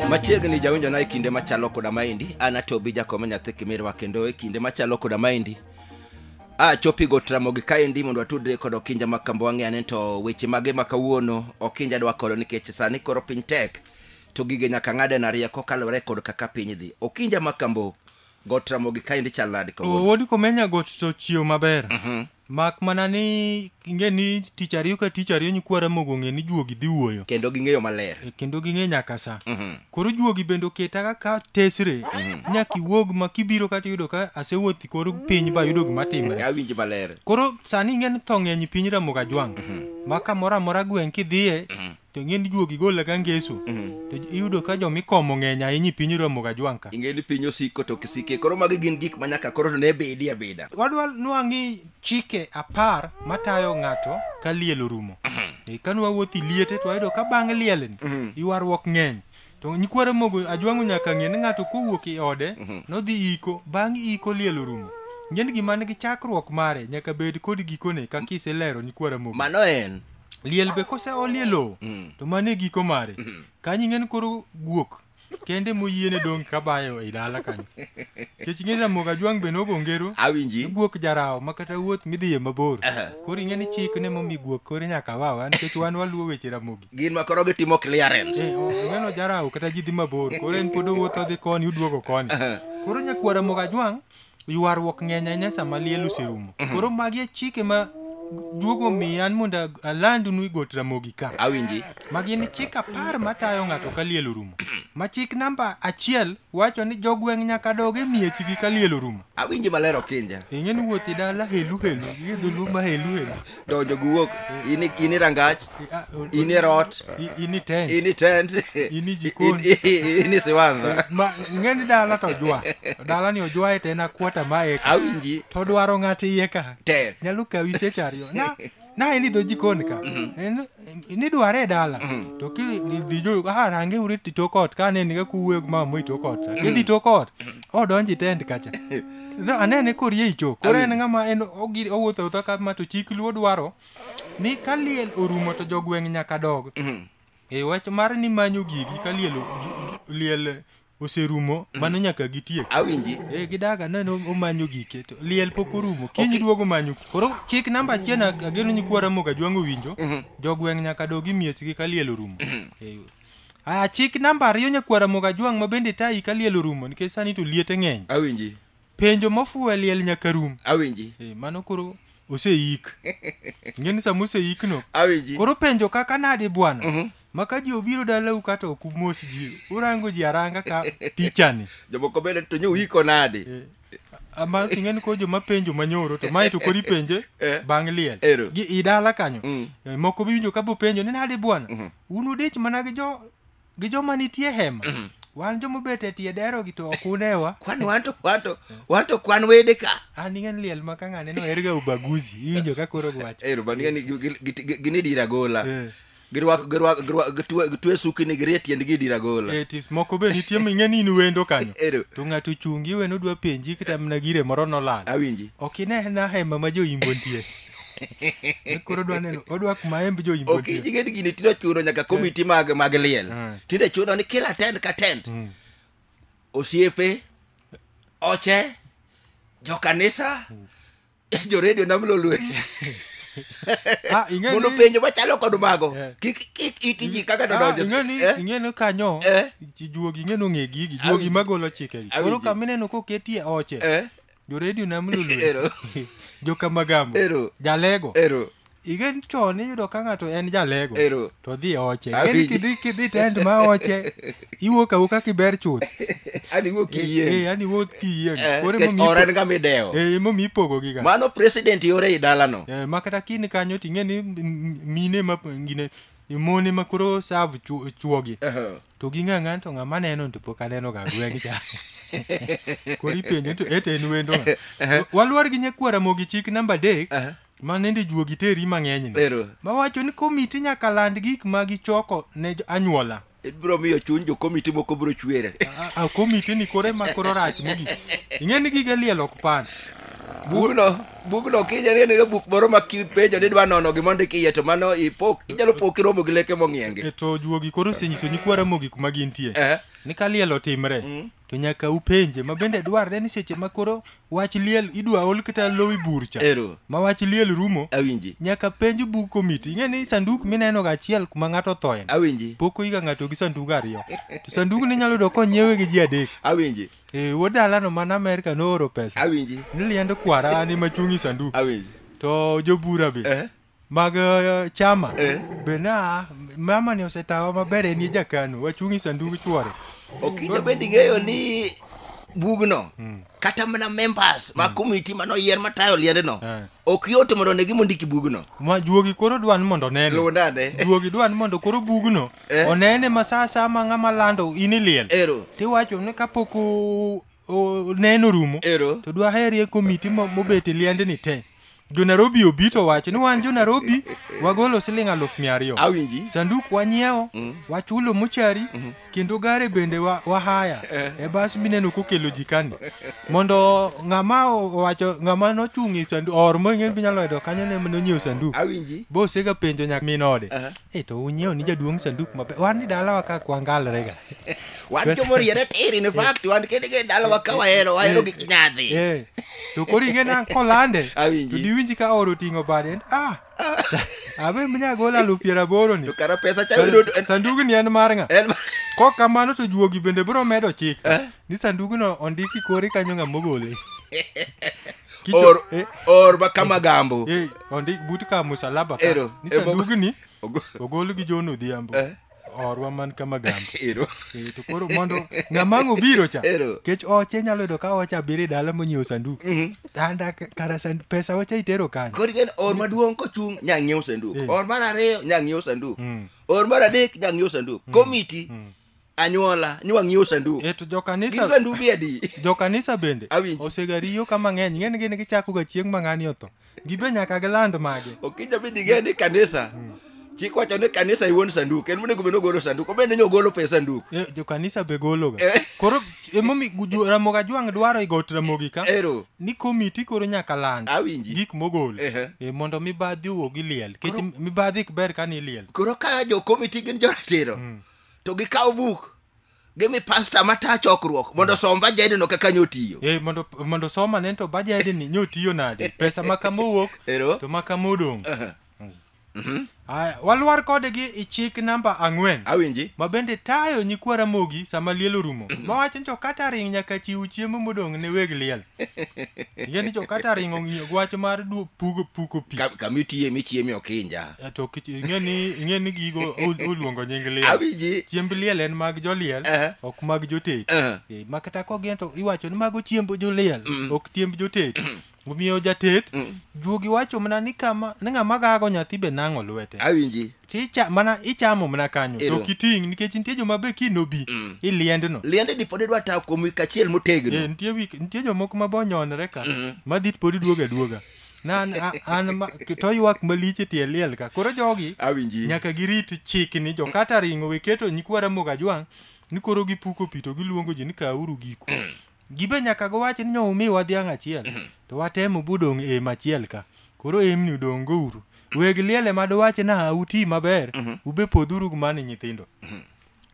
machiegni jawinjo na e kinde machalo koda maendi an atobi jakome nyathi kimirwa kendo e kinde machalo koda maendi a chopi go tramogi kaendi mondo atudre kod okinja ma kambo wang'e ane to weche mage ma kawuono okinja dwa koro nikech sani koro piny tek to gige nyaka ng'ade na rieko kaluwore kod kaka piny dhi okinja ma kambo got ramogi kaendi chal nadi O, kawuono wod komenya got to chiew maber mak mana ni ing'e ni tich ariyo ka tich ariyo nyikwa ramogi ong'e ni juogi dhi wuoyo kendo ging'eyo maler E, kendo ging'e nyaka sa koro juogi bende oketa kaka tesre nyaka iwuog ma kibiro kata iyudo ka asewuothi kor piny ba yudo gima timre awinji maler koro sani ing'e ni tho ng'eny piny ramoga jwang' ma kamoro amora gweng' kidhiye to ing'eni juok igola ka ngeso to iyudo ka joma ikomo ng'eny ahinya i piny iromoga jwanka ing'eni piny osiko to kisike koro magi gin gik ma nyaka koro to ne bedi abeda wadwa nwang'i chike apar matayo ng'ato ka liel orumo Eh, ka nwawuothi liete to wayudo ka bang' lielni ywaruok ng'eny to nyikwara mogo ajwang'o nyaka ng'e ni ng'ato kowuok i ode nodhi iko bang' iko liel orumo ng'eni gima nigi chakruok mare nyaka bed kod gikone kaka iselero nyikwara mogo mano en liel be kose olie lowo Mm. to mano e giko mare Mhm. kanyo ing'eni koro guok kende moyiene dong' kabayo e dala kanyo kech ing'e ramogo ajwang' be nogo ngero awinji guok jarawo ma kata wuoth midhiye mabor Aha. koro ing'e ni chik ne momi guok koro nyaka wawa nikech wan waluwo weche ramogi gin ma koro gitimo clearance Eh, o- ing'eno jarawo kata ji dhi mabor koro en pod owuotho odhi koni uduogo koni koro nyakwara moga jwang' Ywaruok ng'eny ahinya sama liel oserumo. Mhm. Koro magi e chike ma duogo omiya an mondo alandnu igot Ramogi ka. Awinji. Ma gin chik apar matayo ng'ato ka liel orumo. Ma chik namba achiel wacho ni jogweng' nyaka dog e miechgi ka liel orumo. Awinji maler Okinja. Ing'e ni wuoth i dala helu helu, gi dholuo ma helu helu. donjo gi wuok in i- in i rangach in i rot in i tent in i tent In i jikon. in- in- in i siwanza ma ng'eni dala to jwa dala ni ojwa ete na kuota ma eka awinji to dwaro ng'at iye ka te nyalo kawi seche ariyo na na en idho jikon ka En- nidware e dala to kidhijo ah range uri ti tok ot ka ne niga kuwuoyo gi mama moi tok ot idhi tok ot odonji tent kacha No, anene korie icho koro en ng'ama en ogir owuotho awuotha kama to chik luo dwaro ni ka liel orumo to jogweng' nyaka dog e wach mar ni manyo gigi ka liel o- gi- liel oserumo mano nyaka gitiek awinji e gidaga neno omanyo gike to liel pok orumo kiny duogo manyo koro chik namba achiel na- ageno nyikwara moga jwang'o winjo jogweng' nyaka dogi miechgi ka liel orumo Eh, Aya, chik namba ariyo nyakwara Mogajwang' ma bende tayi ka liel orumo nikech sani to liete ng'eny. Awinji. Penjo mofuwe liel nyaka rum. Awinji. Eh, mano koro oseik. Ng'e ni sama oseik no. Awinji. Koro penjo kaka nade bwana? Mm -hmm. Maka ji obiro dalau kata ok umos ji. Urango ji aranga ka pichani. Jomoko bende to nyo uiko nade? Eh. ama ing'eni ko joma penjo manyoro to mae to koro ipenje Eh. bang' liel Ero. gi i dala kanyo Mm. Eh, moko biwinjo ka bopenjo ni nade bwana Mhm. un udich mana gi jo gi joma nitie hema wan joma obet e tie dero gi to ok unewa kwan wanto wanto wanto kwan wede ka an ing'eni liel ma ka ng'ane no erga ubaguzi iwinjo ka koro gwacho ero bani ni ginidira gola Eh. girwako girwako girwako gitwe gitwe sukini girie tiendgi dira gola Eh, tis- moko be nitie ming'e ni in wendo kanyo Ero. to ng'ato ochungi iwe nodwa penji kata mana gire moro nolal awinji ok inena hema ma joimbo nitie Ni koro odwa neno odwa kuma hemb joimbo ok nitie ing'e ni gini tinde chuno nyaka komiti mag mag liel Mm. tinde chuno ni kila tent ka tent Mm. osiepe oche jokanisa jo radio nam lolwe Ah, ing'e mondo ni- penjo machalo kod mago Eh. kik kik iti ji kaka Ah, dodonjo ing'e ni- Eh? ing'e ni kanyo Eh? ji- juogi ing'e nong'e gigi Awinji. juogi magolo chikegi koro Awinji. kamineno koketie oche Eh? joredio nam lulwe Ero. jokamagambo Ero. jalego ero Igen chon iyudo ka ng'ato en jalego Ero. to dhi oche. Awinjo. Ingeni kidhi kidhi tent ma oche iwuok awuoka kiber chuth. Ani wuok Eh, kiyie. eh, yani wuok kiyie. Eh, Koro nikech emomiyo ora en ipo- ga midewo. eh, emomiyo ipogogi ga. Mano president yore i dalano. Eh, ma kata kini kanyo ting'e ni m- m- mine ma ngine mone ma koro serve chu- chuogi Ehe. to ging'a ng'an to ng'ama neno to pok aneno ga gweng' cha koro ipenjo to ete en wendo ng'a. walwar gi nyakwara mogi chik namba adek Ehe. ma nende juogi teri mang'enyni Ero. mawacho ni komiti nyaka land gik ma gichoko ne jo- anyuola ibiro miyo chuny jo komiti moko biro chwere A- a- komiti ni kore ma koro rach mogik ing'e ni gige liel ok pan bugno bugno kinyani en ga buk moro ma kipenjo ni dwa nono gima ondik iye to mano ipok inyalo po kiromo gi leke mong'ienge E to juogi koro osenyiso nyikwara mogik ma gintie Eh. ni ka liel otimre to nyaka upenje ma bende dwarre ni seche ma koro wach liel idwa ol kata lowi burcha Ero. ma wach liel rumo Awinji. nyaka penj bug komiti ing'e ni sanduk mineno ga achiel kuma ng'ato thoen Awinji. pok oyiga ng'ato gi sandug ariyo to sandug ni nyalo yudo konyiewe gi ji adek Awinji. e wuod dalano man amerka nooro pesa Awinji. ni liend kwara an ema chung' i sanduk Awinji. to jobura be Eh. mag eh, chama Eh. be na mama ni osetawa maber en ye jakano wachung' e sandug chwore okinyo bende ing'eyo ni bugno kata mana members ma komiti mane oyier matayo liendno Eh. ok yot mondo ne gima ondiki bugno ma juogi koro dwan mondo onene lundane juogi dwan mondo koro bugno Eh. onene ma sa sa ma ng'ama lando in iliel ero tiwacho ni kapok o- o- neno rumo ero to dwaherie komiti mo- mobet e liendni te jo Nairobi obi to wacho ni wan jo Nairobi wagolo siling aluf mia ariyo awinji sanduk wanyiewo Mm. wachulo mochari kendo gare bende wa- wahaya Eh. e bas mineno kokelo jikani mondo ng'ama o- owacho ng'ama nochung' e sandu or mong'en binyalo yudo kanyo ne nonyiewo sandu awinji bosega penjo nyak min ode Aha. e to unyiewo ni jaduong' sanduk maber wan ni dalawa ka kwangalrega wan joma oriere tiri ni fakti wan kende kende dalawa ka wahero wahero gik nyadhi Eh, to koro ing'e na kolande Awinji. to diwinji ka oro oting'o bade en ah abe mnyagol alufu piero aboro ni to kara pesa cha yudo en- sandugni en mar ng'a en kok kamano to juogi bende biro medo chik ni sandugno ondiki kori kanyo ng'a mogole Kicho- or eh, or ma kama gambo eh, ondik but ka musalaba ka Ero, ni eh, mogo- sandugni ogo- ogol gi jon odhiambo Eh. orwa man ka magambo Ero. Eh, to koro mondo ng'ama ang' obiro cha Ero. kech oche nyalo yudo ka ocha biro e dala monyiewo sanduk anda k- kara sand- pesa ocha itero kanyo Koro ineno or maduong' kochung' nya ng'iewo sanduk. Eh. Or mar ariyo nya ng'iewo sanduk. Mm. Or mar adek nya ng'iewo sanduk. Komiti anyuola nywa ng'iewo sanduk. e to Gin jokanisa sandugi adi? jokanisa bende Awinji. osegariyo ka mang'eny ng'eni gini gichakoga chieng' ma ng'ani otho gibe nyaka giland magi okija bi dige ni kanisa chik wacho ni kanisa iwuon sanduk en monego bed ni ogolo sanduk obed ni ogolo pes sanduk Eh, jokanisa be gologa Eh. koro emomi ramoga jwang' dwaro igot ramogi ka ero ni komiti koro nyaka land awinji gik mogol Ehe. Eh, mondo mibadhi owuog iliel kech mibadhi ok ber kani iliel koro ka jokomiti gin joratiro to gikawo buk gimi pasta mata chokruok mondo osom bajedno kaka nyotiyo Eh, mondo mondo soma ne to bajede ni nyotiyo nade pesa ma kama owuok Ero. to ma kama odong Aya, walwar kode gi i chik namba ang'wen awinji ma bende tayo nyikwa ramogi sama liel orumo mawacho ni to kata ring nyaka chiw chiemo modong' ne weg liel Ing'e ni jokata ringo ng'iyo gi wach mar du- pugo puko pi. Ka- kama itiye michieme okinja Eh, To kich- ing'e ni ing'e ni gigo ol- oluongo nying liel. awinji Chiemb liel en mag joliel, Eh. ok mag jotet. Eh. Eh, Ma kata kogin to iwacho ni mago chiemb joliel, ok chiemb jotet. Omiyo jatet juogi wacho mana ni kama ni ng'ama gago nyathi be nang'o lwete. awinji Chicha mana ichamo mana kanyo to Ero. ok iting' nikech nitie joma be kiny nobi Mm. iliendno. liende ni pod idwa tawo kuom wik achiel Eh, motegno nitie wik nitie jomoko ma bonyonre ka Mhm. madhi pod iduoga duoga. Na an a- an ma- to ywak malich e tie liel ka. Koro jogi awinji nyaka girit chik ni jo kata ringo we keto nyikwa ramoga jwang' ni koro gipuko pi to giluongo ji ni kauru giku Gibe nyaka giwach ni nyo umiwa dhiang' achiel mhm. to watemo budong' e em achiel ka. Koro emni udong' go uru. Weg liele ma duwach na uti maber mhm. ube podhuru kumani nyithindo. Mhm.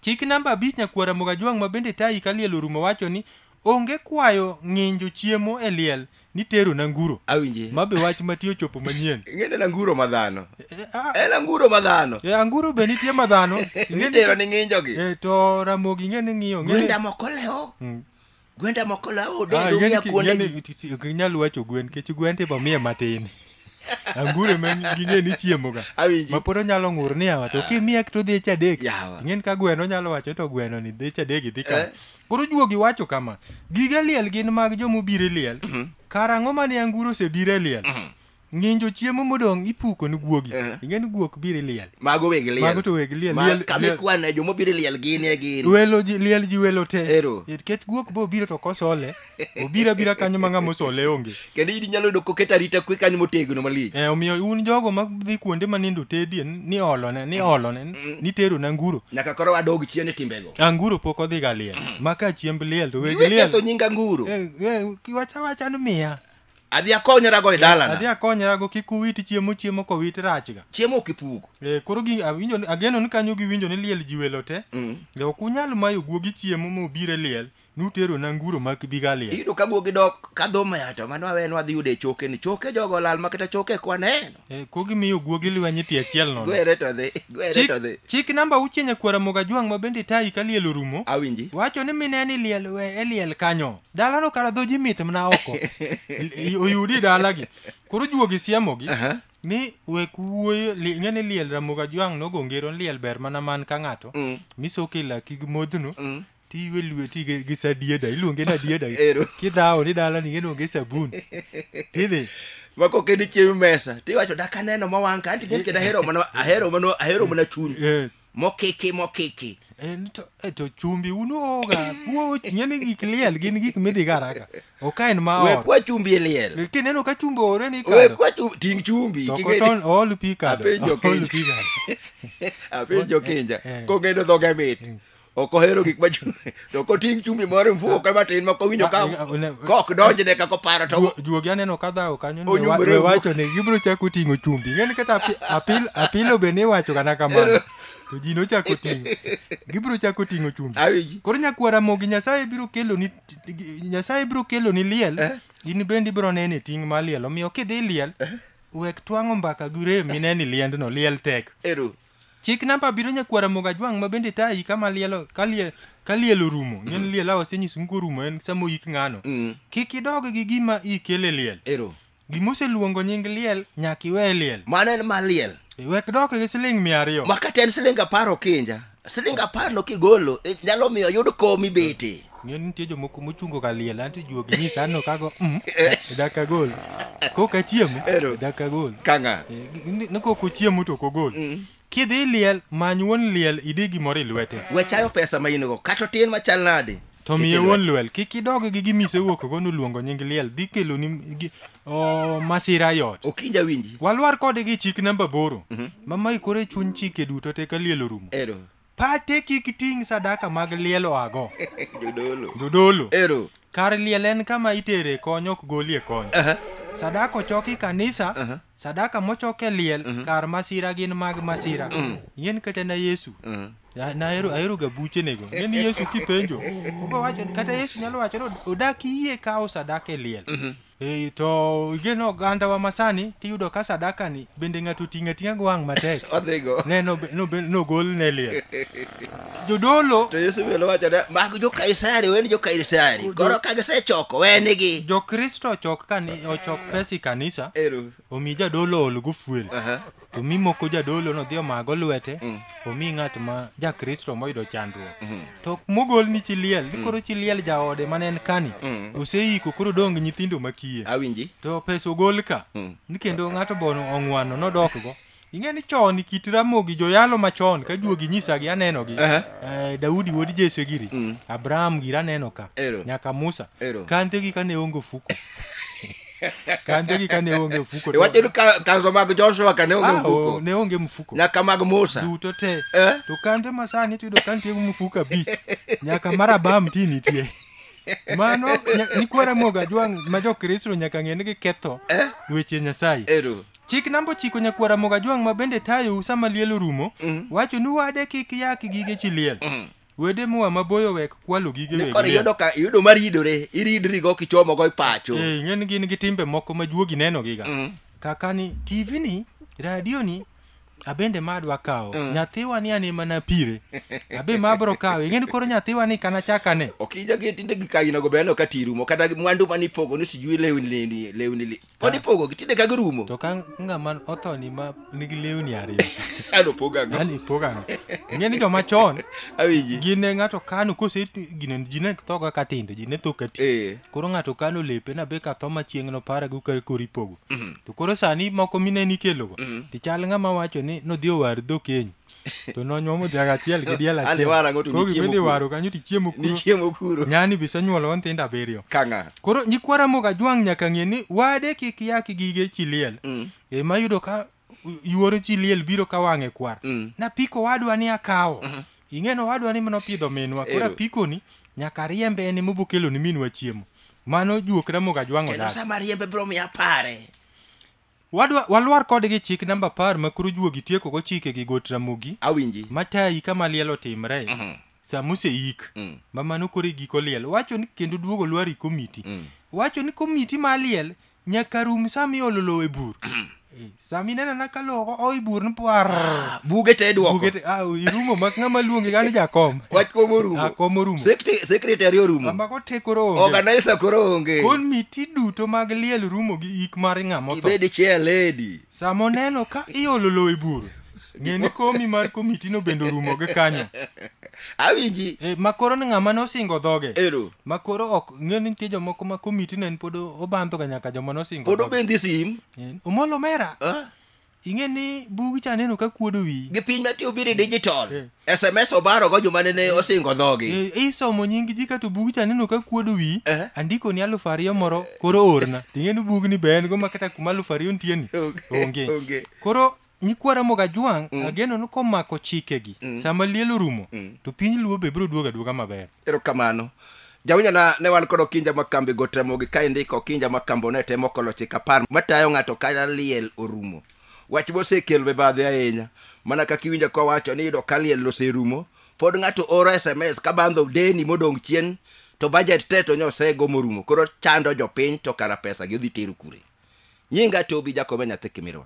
Chik namba abich nyakwara Mogajwang' ma bende tayi ka liel orumo wacho ni onge kwayo ng'injo chiemo e liel ni tero na nguro awinje ma be wach mati ochopo manyien ing'eni na nguro ma dhano Eh, ah, en anguro ma dhano eh, anguro be nitie ma dhano Ing'e ni- itero ni ng'injogi eh, to ramogi ing'e ni ng'iyo ing'e ni- gwenda moko lewo Mm. gwenda moko lewo Ah, dendo ing'e ni ng'iya ki- ing'e kuondegi ni ti- ti- ok inyal wacho gwen kech gwen tibo miye matin anguro ma ging'e ni chiemoga awinji ma pod onyalo ng'ur ni yawa to kimiye to dhi chadek Yawa. ing'e ni ka gweno onyalo wacho to gweno ni dhi chadek idhi ka Eh. Koro juogi wacho kama, gige liel gin mag joma obiro e liel, kara ang'o mane anguro osebiro e liel? Ng'injo chiemo modong' ipuko ni guogi. Eh. Ing'e ni guok biro e liel. mago weg liel Mago to weg liel. Ma- Liel- kama liel- ikwane joma obiro e liel gin e gin Welo ji, liel ji welo te. Ero. Nikech guok bo biro to kosole, obira bira kanyo ma ng'ama osole onge. kendo in inyalo yudo koket arita kwe kanyo motegno malich Eh, omiyo un jogo madhi kuonde ma nindo tedie ni olone ni olone ni tero na nguro nyaka koro wadog chien e timbego anguro pok odhi ga liel ma ka chiemb liel to weg iwe liel ketho nyinga nguro Eh, eh, kiwacha wacha ni miya adhi akonyorago e adhi dalana akonyrago kik uwit chiemo chiemo kowit rachga chiemo ok ipugo Eh, koro gi- awinjo ni- ageno ni kanyo giwinjo ni liel ji welo te Mm. Eh, ok unyal mayo guogi chiemo mobire liel Nuterona nguro ma Gigalia. Iyudo ka guogi dok ka dho maya to mano awe nwadhi yudo e choke ni choke jogo olal ma kata choke kwa neno. Eh, ko gimiyo guogi lweny iti achiel nono. Gwere to dhi, gwere to Chik, dhi. chik namba auchiel nyakwara moga jwang' ma bende tayi ka liel orumo. Awinji. Wacho ni mine ni liel we e liel kanyo. Dalano kara dho ji mit mna oko. I- i- Oyudi dalagi. Koro juogi siemogi. Aha. Ni wek wuoyo, li- ing'e ni liel ramoga jwang' nogo ngero ni liel ber mana man ka ng'ato. Mm. Misoke laki gi modhno. Mm. Tiywe lweti gi gi sadieda, iluonge ni adieda. Ero. Kidhawo ni dala ni ng'eno onge sabun. Tidhi. ma kok en chiemo mesa tiwacho dak aneno ma wang' ka anti gin kendo ahero mana ahero mana ahero mana chuny Eh. mokiki mokiki En to, eh, to chumbi un uoga. Uo ng'eni gik liel gin gik midhi garaka. Ok en ma we ot. kwa chumbi e liel Kineno ka chumbi ore ni we kado. kwa chumbi ting chumbi To king'e ni- koton ool pi kado. Apenjo Ool Kenya. pi kado. apenjo kinja Eh. kong'edo dhoge mit ok ohero gik ma to koting' chumbi moro mfuko ema tin moko winjo ka kok donjne ka koparo to juogi aneno ka dhawo kanyo ne wacho ne gibiro chako ting'o chumbi ng'eni kata apil apilo be ne iwacho kana kamano to ji nochako ting'o gibiro chako ting'o chumbi koro nyakwara mogi nyasaye biro kelo ni nyasaye biro kelo ni liel eh? in bende ibiro nene ting' ma liel omiyo kidhi liel eh? wek twang'o mbaka gi rem mineni liendno liel tek Chik namba abiriyo nyakwar Ramogi Ajwang' ma bende tayi kama lielo ka lie- ka liel orumo ng'e ni liel awa senyisi mko orumo en sama oyik ng'ano Mm. kik idog gi gima ikele liel Ero. gima oseluongo nying liel nyaka iwe liel Mano en mar liel. wek dok gi siling mia ariyo Ma kata en siling apar okinja. Siling apar no kigolo eh, nyalo miyo oyud kom ibete. Ng'eyo ni nitie jomoko mochungo ka liel anto juogi nyisa anno kago mm, dak agol kok achiemo Ero. dak agol Kang'a. Eh, gi- ni- ni kok ochiemo to ok ogol kidhi liel many wuon liel idi gimoro i lwete We chayo pesa ma in go. Kata otin machal nade. to Ket miye e lwete. wuon liel kik idog gi gima isewuokgo noluongo nying liel dhi keloni gi- o, masira e ot Okinja winji. walwar kode gi chik namba boro mama ikore chuny chike duto te ka liel orumo Ero. Pate kik ting' sadaka mag liel oago. Jodolo. Jodolo. Ero. Kar liel en kama itere kony ok golie kony. Aha. Sadaka ochoki kanisa, Aha. sadaka mochok e liel kar masira gin mag masira. Ing'en kata na Yesu. Mm. Ya, na ahero ahero ga buchenego. Ing'en Yesu kipenjo. Obo wacho kata Yesu nyalo wacho ni odak yie kawo sadaka e liel. Ei, to igeno ogandawa masani tiyudo ka sadakani bende ng'ato ting'e ting'a gi wang' matek odhigo ne nobe- nobe- nogol ne liel jodolo to yesu bende wacho ne mag jokaisari weni jokaisari koro ka gisechoko wenigi jokristo ochok kani ochok pesa i kanisa ero omi jadolo ol gofuel Aha. to mi moko jadolo nodhi omago lwete Mm. omi ng'at ma jakristo moyudo chandruok Mhm. to mogol ni chi liel ni koro chi liel jaode mane en kani Mm. oseiko koro dong nyithindo makiye Awinji. to pesa ogol ka Mm. ni kendo ng'ato bono ong'wano nodokgo Ing'e ni chon kit Ramogi joyalo machon ka juogi nyisagi anenogi. Ehe. Eh, Daudi wuod Jesse giri. Mm. Abraham giri aneno ka. Ero. Nyaka Musa. Ero. Kandhegi kane onge ofuko. Kandhegi kane onge ofuko. to- iwacho ni ka- kanzo mag joshua ka ne onge Ah, mfuko o- ne onge mfuko. nyaka mag musa Duto te. Eh? To kandhe masani to yudo ka nitie mfuko abich. Nyaka mar Abraham ti nitie. mano nya- nyikwa ramoga jwang' ma jokristo nyaka ng'e ni giketho Eh? weche nyasaye Ero. chik namba ochiko nyakwar ramoga jwang' ma bende tayou sama liel orumo wacho ni wade kik yak gige chi liel wede moa maboyo wek kwalo gige Ne weg koro liel. iyudo ka iyudo mar yidore, iridri go kichomo go ipacho. Eh, ing'e ni gin gi timbe moko ma juogi nenogiga Mm. kaka ni tv ni radio ni abende ma adwa kawo mm. nyathiwa ni ane mana pire abe ma abro kawe ing'eni koro nyathiwa ni kana chakane okijagi tinde gikaginago be aneno ka ti rumo kata mwandu mane ipogo ni sijui lewni lewni lewni pod ah. ipogogi tinde ka girumo to ka ng'ama othoni ma nigi lewni ariyo an opogago an ipogago ing'eni joma chon awinji gin ne ng'ato kano kose gine ji ne thoga ka tindo ji ne tho ka ti eh. koro ng'ato kano lepe na be ka tho ma chieng' noparago ka koro ipogo Mhm. to koro sani moko mine nikelogo Mhm. to chal ng'ama wacho ni nodhi owar dhok keny to nonyuomo dhiang' achiel gi diel Ande wara achiel ng'o to koro nichiemo gimidhi kuro. waro kanyo to ichiemo kuro Nichiemo kuro. nyani bisenyuolo nyithindo abiriyo Kang'a. koro nyikwa ramoga jwang' nyaka ng'e ni wade kik yak gige chiliel Mm. ema yudo ka yuoro chi liel biro ka wang'e kwar Mm. napiko wadwa ni akawo ing'eno wadwa ni nopidho minwa koro Ero. apikoni nyaka riembe en ema obokelo ni minwa chiemo mano juok ramogo ajwang'o kendo dala sama riembe biro miya pare Wadwa- walwar kodgi chik namba apar ma koro juogi tiekogo chike gi got ramogi awinji matayi kama liel otimre Mhm. sama oseik Mm. ma mano koro e giko liel wacho ni kendo duogo lwari komiti Mm. wacho ni komiti ma liel Nyaka rum sama iolo lowo e bur. Eh, Sama ineno na ka lowo o i bur ni par. buge te duoko Buge te- ah, irumo mak ng'ama luongi gani jakom. wach kom orumo Jakom orumo. Sekte- sekretari orumo Kama kote koro onge. organisa koro onge Komiti duto mag liel rumo gi ik mar ng'ama otho. ibed chair lady Sama oneno ka iolo lowo e bur. ng'e ni komi mar komitino bende orumo gi kanyo awinji e, ma koro ni ng'ama nosingo dhoge ero ma koro ok ng'e ni nitie jomoko ma komitino en pod obandhoga nyaka joma nosingo pod dhoge. obendi sim Eh, omolo mera ah, ing'e ni bugi cha neno ka kuodo wiyi gi piny mati obiro e digital Eh. sms obarogo joma nene osingo dhogi Eh, isomo nying ji kato bugi cha neno ka kuodo wiyi Eh. andiko ni alufu ariyo moro koro orna ting'e ni bugni be en go ma kata kuma alufu ariyo nitieni Okay, onge okay. koro Nyikwa Ramogi Ajwang', mm. ageno ni komako chikegi mm. sama liel orumo mm. to piny Luo be biro duogo aduoga maber. Erokamano. Jawinjana ne wan kod okinja ma kambi go Ramogi ka indiko okinja ma kambo ne temo kolo chik apar matayo ng'ato ka liel orumo. Wach mosekelo mibadhi ahinya mana kaka iwinjo kowacho ni yudo ka liel oserumo pod ng'ato oro SMS ka bandho deni modong' chien to budget te to nyosego morumo koro chando jopiny to kara pesa gi odhi tero kure. Nyinga Tobi Jakobe nyathi Kimirwa.